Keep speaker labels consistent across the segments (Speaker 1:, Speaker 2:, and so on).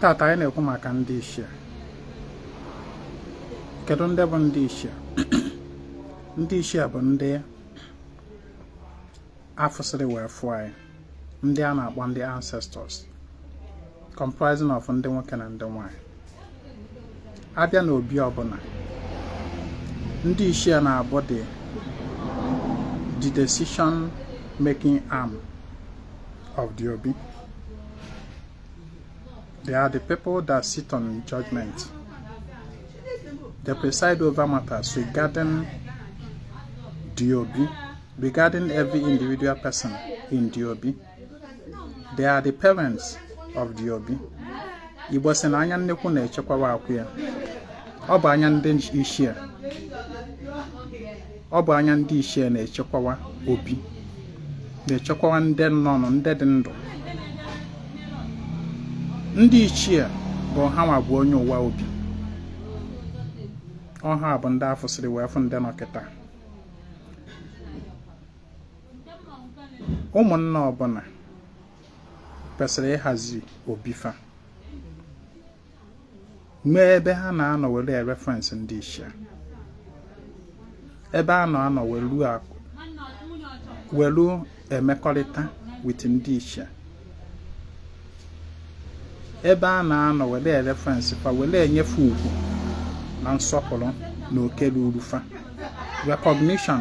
Speaker 1: tata anyị na-ekwu maka ndị ichie kedu ndị bụ ndị ichie ndị ichie bụ ndị a fụsịrị wee fụọ anyị ndị a na-akpọ ndị ancestors comprising of ndị nwoke na ndị nwanyị a bịa n'obi ọbụla ndị ichie na-abụ dị the decision making arm of the obi they are the people that sit on judgment they preside over matters regarding the obi regarding every individual person in the obi they are the parents of the obi igbo sị na anya nnekwu na-echekwawa akwụ ya ọ bụ anya ndị ichie ọ bụ anya ndị ichie na-echekwawa obi na-echekwawa ndị nọnụ ndị dị ndụ ndị ichie bụ ha nwa bụ onye ụwa obi ọ ha bụ ndị a fụsịrị wee fụ ndị nọ kịta ụmụnna ọbụla kwesịrị ịhazi obi fa nwee ebe ha na-anọ were reverence ndị ichie ebe a na-anọ welu emekọrịta with ndị ichie ebe a na-anọ were reverence fa were enye fa ugwu na nsọpụrụ na oke ruuru fa recognition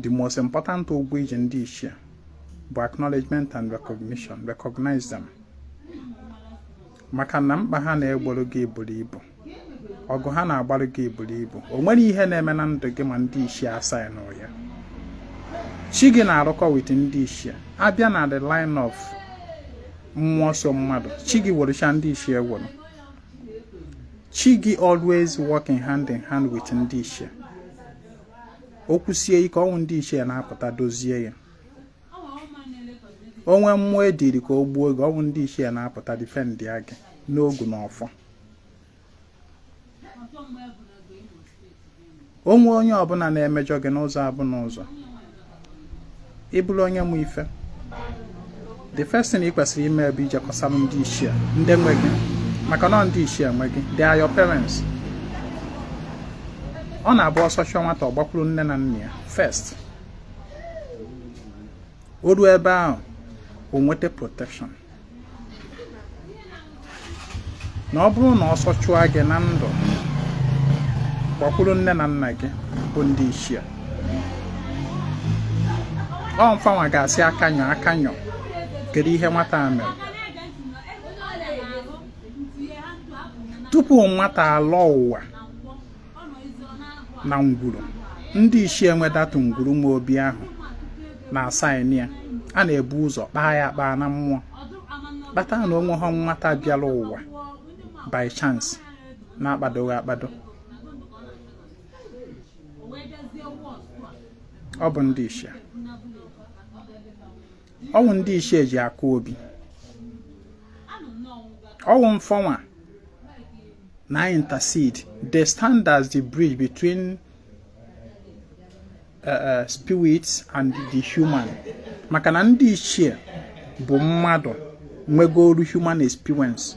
Speaker 1: the most important ụgwọ i ji ndị ichie bụ acknowledgement and recognition recognize them maka na mkpa ha na-egboro gị buru ibu ọgụ ha na-agbarụ gị buru ibu o nwere ihe na-eme na ndụ gị ma ndị ichie asaghị na ụya chi gị na-arụkọ with ndị ichie a bịa na the line of mmụọ so mmadụ chi gị werecha ndị ichie ewere chi gị always working hand in hand with ndị ichie okwu sie ike ọ nwụ ndị ichie na-apụta dozie ya o nwee mmụọ e diri ka o gbuo gị ọ nwụ ndị ichie na-apụta defendịa gị n'ogu na ọfọ o nwee onye ọbụla na-emejọ gị n'ụzọ abụ n'ụzọ ị bụrụ onye mụ ife the first thing ị kwesịrị ime bụ ije kọsara ndị ichie ndị nwe gị maka na ndị ichie nwe gị they are your parents ọ na-abụ ọsọ chụọ nwata ọ gbakwuru nne na nna ya first o ruo ebe ahụ o nweta protection na ọ bụrụ na ọsọ chụọ gị na ndụ gbakwuru nne na nna gị bụ ndị ichie ọ mfanwa ga-asị akanyọ akanyọ kedu ihe nwata a mere tupu nwata alọ ụwa na ngwuru ndị ichie nwe that ngwuru nwe obi ahụ na-assign ya a na-ebu ụzọ kpaa ya akpa na mmụọ kpata na o nweha nwata bịara ụwa by chance na-akpadoghị akpado ọ bụ ndị ichie ọwụ ndị ichie ji akụ obi ọwụ mfọnwa na-intercede they stand as the bridge between uh, uh, spirits and the human maka na ndị ichie bụ mmadụ nwegoro human experience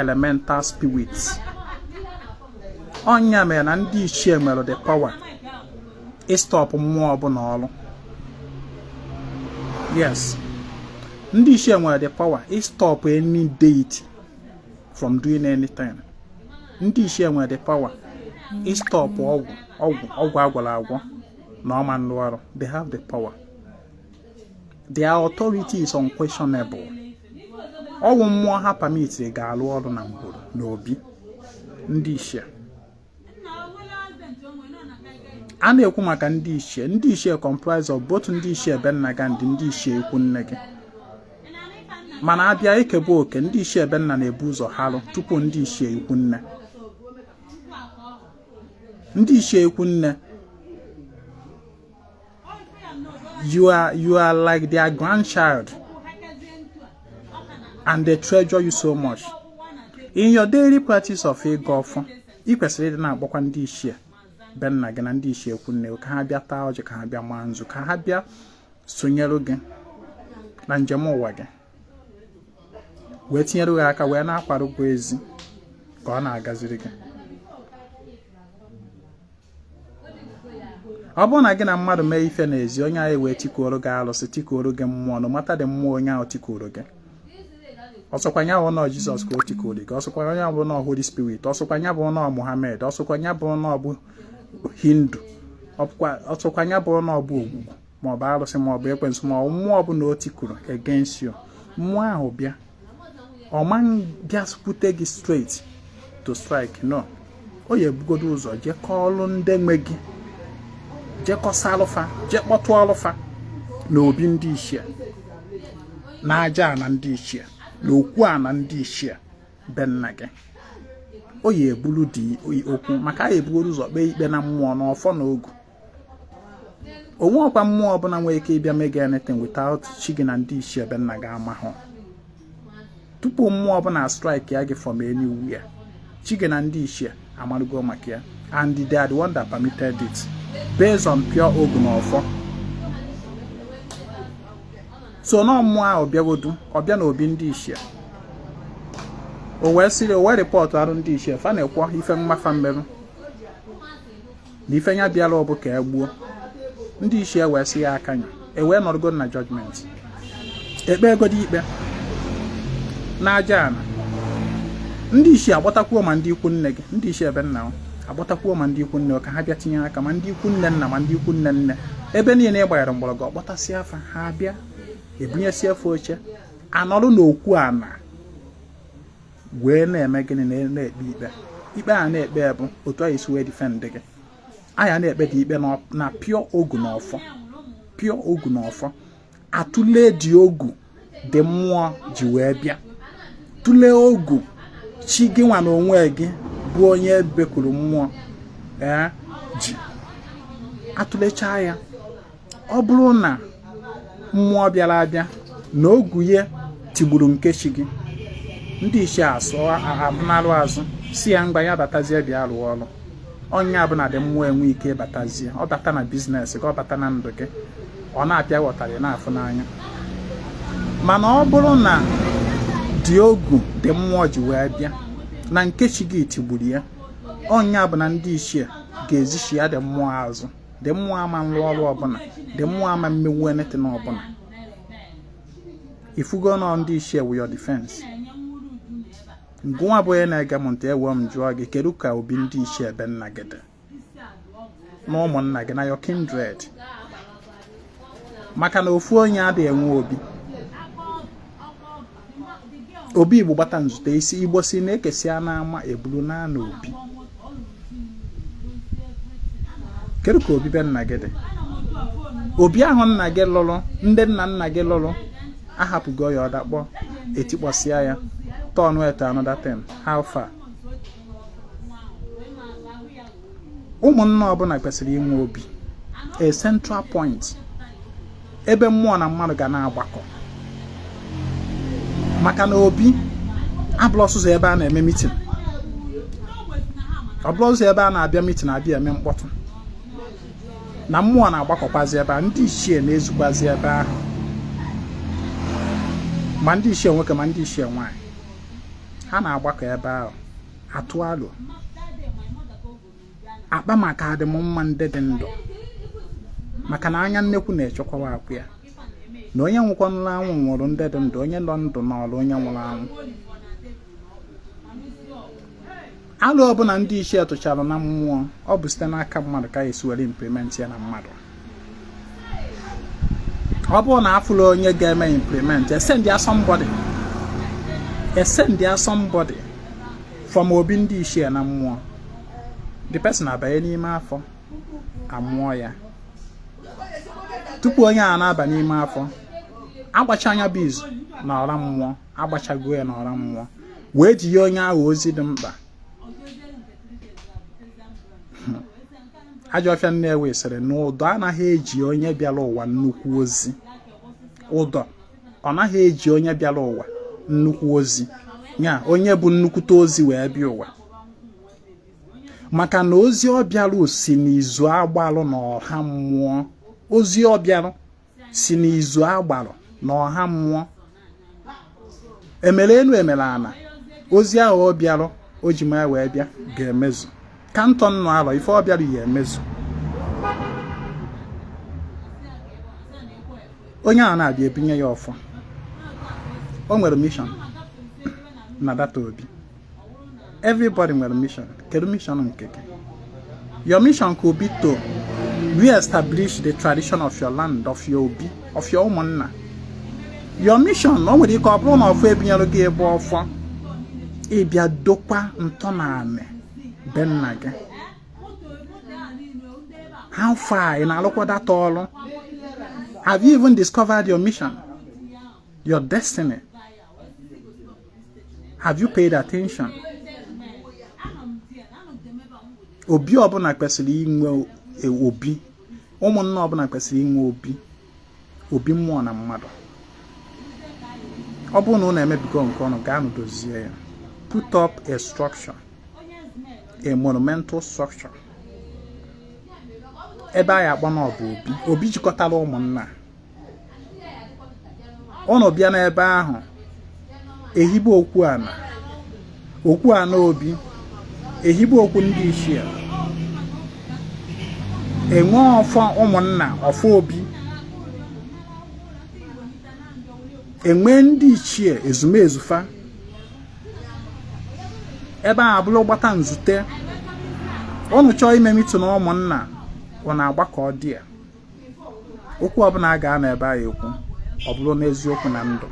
Speaker 1: elemental spirit ọ nya mere na ndị ichie nwere the power ịstop mmụọ ọbụla ọrụ yes ndị ichie nwere the power ịstop any deity from doing anything ndị ichie nwere the power ịstop ọgwụ agwara agwọ na ọ ma nlụ ọrụ they have the power their authority is unquestionable ọwụ mmụọ ha permitiri ga-alụ ọrụ na ngwuru na obi ndị ichie a na-ekwu maka ndị ichie ndị ichie comprise of both ndị ichie be nna gị and ndị ichie ikwu nne gị mana abịa ikebe oke ndị ichie be nna na-ebu ụzọ harụ tupu ndị ichie ikwu nne ndị ichie ikwu nne You are, you are like their grandchild. And they treasure you so much. In your daily practice of ịgọ ọfọ, ị kwesịrị ịdị na-akpọkwa ndị ichie be nna gị na ndị ichie ikwu nne ka ha bịa taa ọjị ka ha bịa maa nzu ka ha bịa sonyere gị na njem ụwa gị wee tinyere gị aka wee na-akwarụ gị ezi ka ọ na-agaziri gị ọ bụrụ na gị na mmadụ mee ife n'ezi onye ahụ wee tikuoro gị alụsị tikuoro gị mmụọ no matter the mmụọ onye ahụ tikuoro gị ọsọkwa nya bụ nọ jizọs ka o tikuoro gị ọsọkwa nya bụ nọ holy spirit ọsọkwa nya bụ nọ muhammed ọsọkwa nya bụ nọ bụ hindu ọsọkwa nya bụ nọ bụ ogwugwu maọbụ arụsị maọbụ ekwensu ma mmụọ ọbụla o tikuru against you mmụọ ahụ bịa ọ ma bịakwute gị straight to strike no ọ ya ebugodo ụzọ jee kọọlụ ndị nwe gị jee kọsaalụ fa jee kpọtụalụ fa na obi ndị ichie na aja ana ndị ichie na okwu ana ndị ichie be nna gị ọ ya ebulu the okwu maka a ya ebugodo ụzọ kpee ikpe na mmụọ na ọfọ na ogu o nwerọkwa mmụọ ọbụla nwere ike ịbịa mee gị anything without chi gị na ndị ichie be nna gị amahụ tupu mmụọ ọbụla strike ya gị from anywhere chi gị na ndị ichie amarụgo maka ya and they are the one that permitted it based on pure ogu na ọfọ so na mmụọ ahụ bịagodu ọ bịa na obi ndị ichie o wee sịrị o wee reportụarụ ndị ichie fa nekwo ife nwa fa merụ na ife nya bịara bụ ka ya gbuo ndị ichie ewee sị ya aka nya ewee nọrọgodu na judgment ekpeegodi ikpe n'aja ana ndị ichie akpọtakwuo ma ndị ikwu nne gị ndị ichie be nna akpọtakwuo ma ndị ikwu nne ka ha bịa tinye aka ma ndị ikwu nne nna ma ndị ikwu nne nne ebe niile ị gbanyere mgbọrọgwụ akpọtasịa fa ha bịa ebunyesie fa oche anọrụ n'okwu ana wee na-eme gịnị na-ekpe ikpe ikpe a na-ekpe bụ otu a ya-esi wee defend gị a ya na-ekpe the ikpe na pure ogu na ọfọ pure ogu na ọfọ atụlee the ogu the mmụọ ji wee bịa tụlee ogu chi gịnwa na onwe gị bụ onye bekwuru mmụọ ee ji atụlechaa ya ọ bụrụ na mmụọ bịara abịa na ogu ya tigburu nke chi gị ndị ichie asụ abụnarụ azụ sị ya ngwa ya batazie bịa rụọ ọrụ ọ ya bụ na the mmụọ enwee ike ịbatazie ọ bata na business gị ọ bata na ndụ gị ọ na-apịa gị ụtarị a na-afụ n'anya mana ọ bụrụ na the ogu the mmụọ ji wee bịa na nke chi gị tigburu ya ọ ya bụ na ndị ichie ga-ezichi ya the mmụọ azụ the mmụọ ama nlụ ọrụ ọbụla the mmụọ ama mmenwu anything ọbụla ị fugo na ndị ichie wu your defense ngụnwa bụ onye na-ege m ntị ewe m jụọ gị kedu ka obi ndị ichie be nna gị dị na ụmụnna gị na your kindred maka na ofu onye adịghị enwe obi obi igbo gbata nzute isi igbo sị na ekesịa n'ama eburu naa na obi kedu ka obi be nna gị dị obi ahụ nna gị lụrụ ndị nna nna gị lụrụ ahapụgo ya ọ dakpọ etikpọsịa ya turn it to another thing how far ụmụnna ọbụla kwesịrị inwe obi a central point ebe mmụọ na mmadụ ga na-agbakọ maka na obi abụrọ sọsọ ebe a na-eme mitin ọ bụrọ sọsọ ebe a na-abịa mitin abịa eme mkpọtụ na mmụọ na-agbakọkwazi ebe ahụ ndị ichie na-ezukwazi ebe ahụ ma ndị ichie nwoke ma ndị ichie nwaanyị ha na-agbakọ ebe ahụ atụ alo akpa maka adịm mma ndị dị ndụ maka na anya nnekwu na-echekwawa akwụ ya na onye nwụkwanụrụ anwụ nwụrụ ndị dị ndụ onye nọ ndụ nọrọ onye nwụrụ anwụ alo ọbụla ndị ichie tụchara na mmụọ ọ bụ site n'aka mmadụ ka ya esi were implement ya na mmadụ ọ bụrụ na afụrọ onye ga-implement e sendịa somebody from obi ndị ichie na mmụọ the person abanye n'ime afọ a mụọ ya tupu onye ahụ na-aba n'ime afọ agbachaa nya bụ izu na ọra mmụọ agbachago ya na ọra mmụọ wee zie onye ahụ ozi dị mkpa Ajọfịa Nnewi sịrị na ụdọ anaghị eji onye bịara ụwa nnukwu ozi ụdọ ọ naghị eji onye bịara ụwa nnukwu ozi ya onye bu nnukwute ozi wee bịa ụwa maka na ozi ọ bịara si n'izu agbalụ na ọha mmụọ ozi ọ bịara si n'izu agbalụ na ọha mmụọ emere enu emere ana ozi ahụ ọ bịarụ o ji maka ya wee bịa ga-emezu ka ntọ nnụ alọ ife ọ bịara ya emezu onye ahụ na-abịa ebinye ya ọfọ o nwere mission na that obi everybody nwere mission kedu mission nke gị your mission could be to re-establish the tradition of your land of your obi of your ụmụnna your mission o nwere ike ọ bụrụ na ọfọ ebinyere gị bụ ọfọ ịbịa dokwa ntọnanị be nna gị how far ị na-alụkwa that ọrụ have you even discovered your mission Your destiny. Have you paid attention? Obi ọbụla kwesịrị inwe e, obi ụmụnna ọbụla kwesịrị inwe obi obi mmụọ na mmadụ ọ bụrụ na ụnụ emebigo nke ụnụ gaanụ dozie ya put up a structure a monumental structure ebe a ya-akpọ na ọ bụ obi obi jikọtara ụmụnna ụnụ bịa n'ebe ahụ ehibe okwu ana okwu ana obi ehibe okwu ndị ichie enwe ọfọ ụmụnna ọfọ obi enwe ndị ichie ezumezu fa ebe ahụ abụrụ gbata nzute ụnụ chọọ ime meeting ụmụnna ụnụ agbakọ there okwu ọbụla a ga-anọ ebe ahụ ekwu ọ bụrụ n'eziokwu na ndụ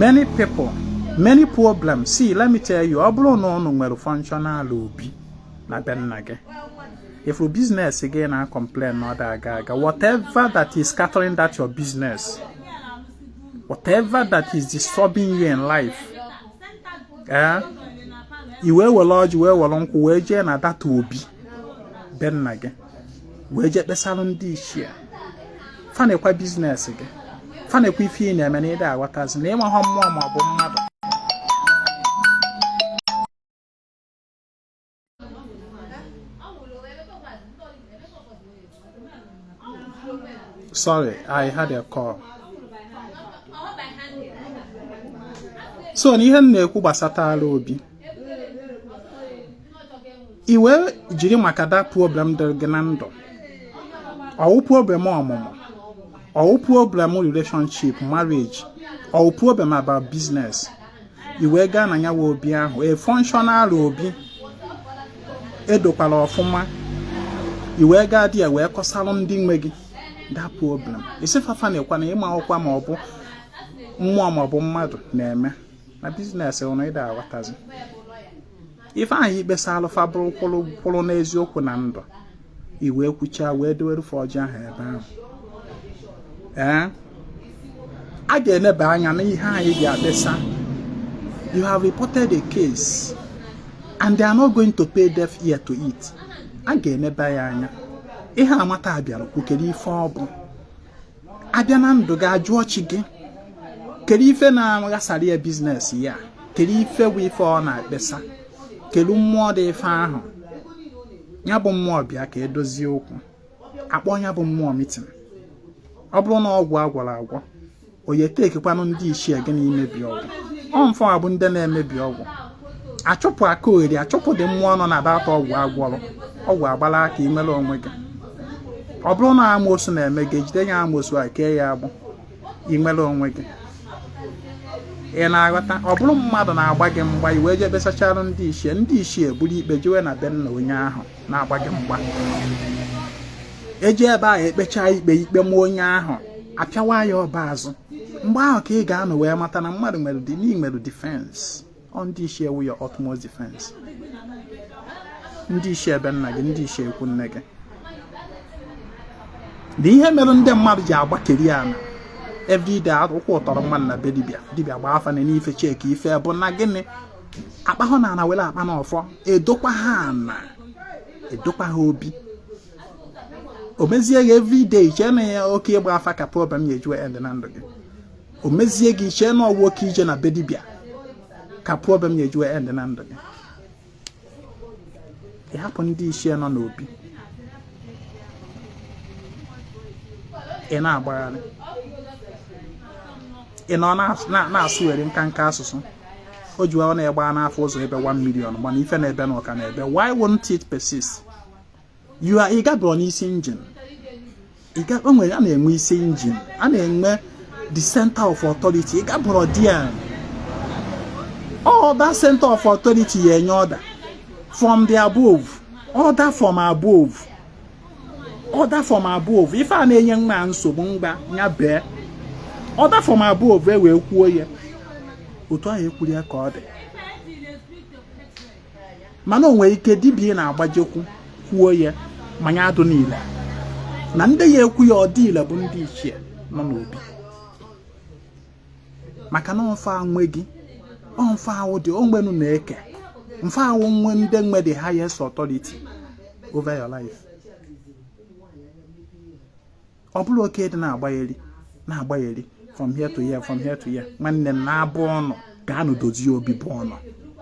Speaker 1: many people many problems see let me tell you ọ bụrụ na ụnụ nwere functional obi na be nna gị ị fụrụ business gị ị na-acomplain na ọda aga aga whatever that is scattering that your business whatever that is disturbing you in life ee i wee were ọjị wee were nkwụ wee jee na that obi be nna gị wee jee kpesara ndị ichie fa nekwa business gị fa nekwa ife ị na-eme na ịda aghọtazi na ịmahọ mmụọ ma ọ bụ mmadụ Sorry, I had a call. so na ihe m na-ekwu gbasatara obi i wee jiri maka that problem dị gị na ndụ ọ wụ problem ọmụmụ ọ wụ problem relationship marriage ọ wụ problem about business i wee gaa na nya wụ obi ahụ a functional obi edokwara ọfụma i wee gaa there wee kọsalụ ndị nwe gị that problem ị sị fa fa nekwa na ịmahọkwa ma ọ bụ mmụọ ma ọ bụ mmadụ na-eme na business ụnụ ịda aghọtazi ife ahụ ị kpesaalụ fa bụrụ kwụrụ kwụrụ n'eziokwu na ndụ i wee kwucha wee dowerụ fa ọjị ahụ ebe ahụ ee a ga-eneba anya n'ihe ahụ ị gaa kpesa you have reported a case and they are not going to pay deaf ear to it a ga-eneba ya anya ihe amata bịara kwu kedu ife ọ bụ abịa na ndụ gị ajụọ chi gị kedu ife na-aghasara ya business ya kedu ife bụ ife ọ na-akpesa kedu mmụọ dị ife ahụ ya bụ mmụọ bịa ka edozie okwu akpọ ya bụ mmụọ meeting ọ bụrụ na ọgwụ agwọrọ agwọ onye tekekwanụ ndị ichie gị n'imebi ọgwụ ọ fa bụ ndị na-emebi ọgwụ achụpụ aka ogheri achụpụ ụdị mmụọ nọ na that ọgwụ agwọrọ ọgwụ agbara aka i nwere onwe gị ọ bụrụ na amoosu na-eme gị jide ya amoosu a kee ya agbụ ị nwere onwe gị ị na-aghọta ọ bụrụ mmadụ na-agba gị mgba i wee je kpesachara ndị ichie ndị ichie buru ikpe jewe na be nna onye ahụ na-agba gị mgba e je ebe ahụ ekpecha ikpe ikpe ma onye ahụ a pịawa ya ọba azụ mgbe ahụ ka ị ga-anọ wee mata na mmadụ nwere dị na i nwere defense ndị ichie wụ your utmost defense ndị ichie be nna gị ndị ichie ikwu nne gị na ihe mere ndị mmadụ ji agbakeri ana everyday akwụkwọ ụtọrọ mmadụ na be dibịa dibịa gbaa afa na n'ife cheki ife bụ na gịnị akpa hụ na ana were akpa na ọfọ edokwaha ana edokwaha obi o mezie ya everyday chee na ya oke ịgba afa ka problem ya-eji wee end na ndụ gị o mezie gị chee na ọ wụ oke ije na be dibịa ka problem ya-eji wee end na ndụ gị ị hapụ ndị ichie nọ n'obi ị na-agbagharị ị nọ na-asụgheri nkanka asụsụ o ji ọ na-agba n'afọ ụzọ ebe 1 million mana ife na-ebe na ọ ka na-ebe why won't it persist you are ị gabụrọ n'isi injin o nwere a na-enwe isi injin a na-enwe the center of authority ị gabụrọ there ọ that center of authority ya-enye order from the above order from above order from above ife a na-enye nwa nsogbu ngwa ya bee order from above e wee kwuo ya otu ahụ e kwuru ya ka ọ dị mana o nwere ike dibịa na-agba aja ekwukwuo ya ma nya adịna ile na ndị ya-ekwu ya ọ dị ile bụ ndị ichie nọ n'obi maka na ọ fa nwe gị ọ fa wụ dinwenu na-eke ọ fa wụ nwe ndị nwe the highest authority over your life ọ bụrọ oke ịdị na-agbagheri na-agbagheri from here to here from here to here nwanne m naba ụnọ gaanụ dozie obi be unu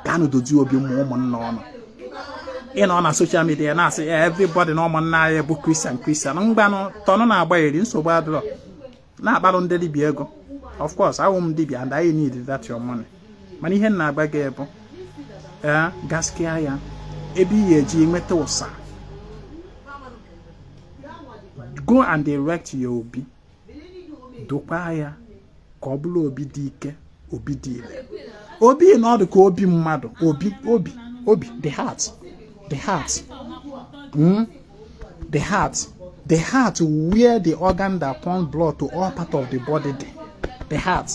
Speaker 1: gaanụ dozie obi ụmụ ụmụnna unu ị nọ na social media na-asị everybody na ụmụnna anyị bụ christian christian ngwanụ tọnụ na-agbagheri nsogbu adịrọ na-akparụ ndị dibịa ego of course awụ m dibịa and I need that your money mana ihe m na-agwa gị bụ ee gaskiya ya ebe ị ga-eji nweta ụsa go and erect your obi dokwaa ya ka ọ bụrụ obi dị ike obi dị ile obi na ọ dụ ka obi mmadụ obi obi obi the heart the heart hmm? the heart the heart where the organ that pumps blood to all part of the body dị the heart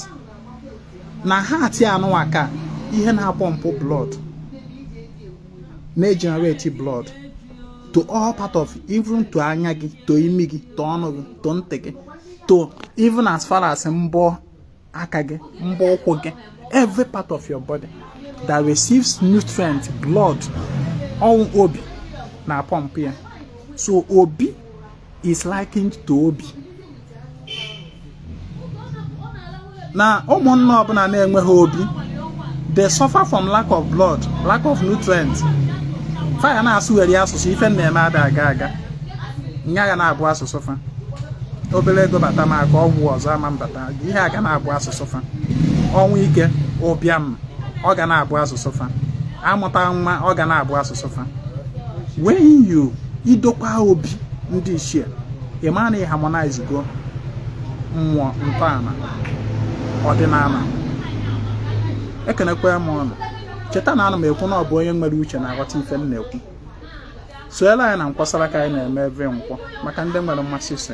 Speaker 1: na heart ya anụwa ka ihe na-apọmpụ blood na-egenerate blood to all part of even to anya gị to imi gị to ọnụ gị to ntị gị to even as far as mbọ aka gị mbọ ụkwụ gị every part of your body that receives nutrient blood ọ wụ obi na-apọmpụ ya so obi is likened to obi na ụmụnna ọbụla na-enweghị obi they suffer from lack of blood lack of nutrients fa ya na-asụgheri asụsụ ife m na-eme ada aga aga nya ya na-abụ asụsụ fa obere ego bata m aka ọ gwụ ọzọ ama mbata ihe a ga na-abụ asụsụ fa ọnwụ ike ụbịam ọ ga na-abụ asụsụ fa amụta nwa ọ ga na-abụ asụsụ fa when you ị dokwa obi ndị ichie ị ma na ị harmonizego mmụọ ntọala ọdịnala ekenekwa m unu cheta na ana m ekwu na ọ bụ onye nwere uche na-aghọta ife m na-ekwu soela anyị na nkwọ saraka anyị na-eme every nkwọ maka ndị nwere mmasị iso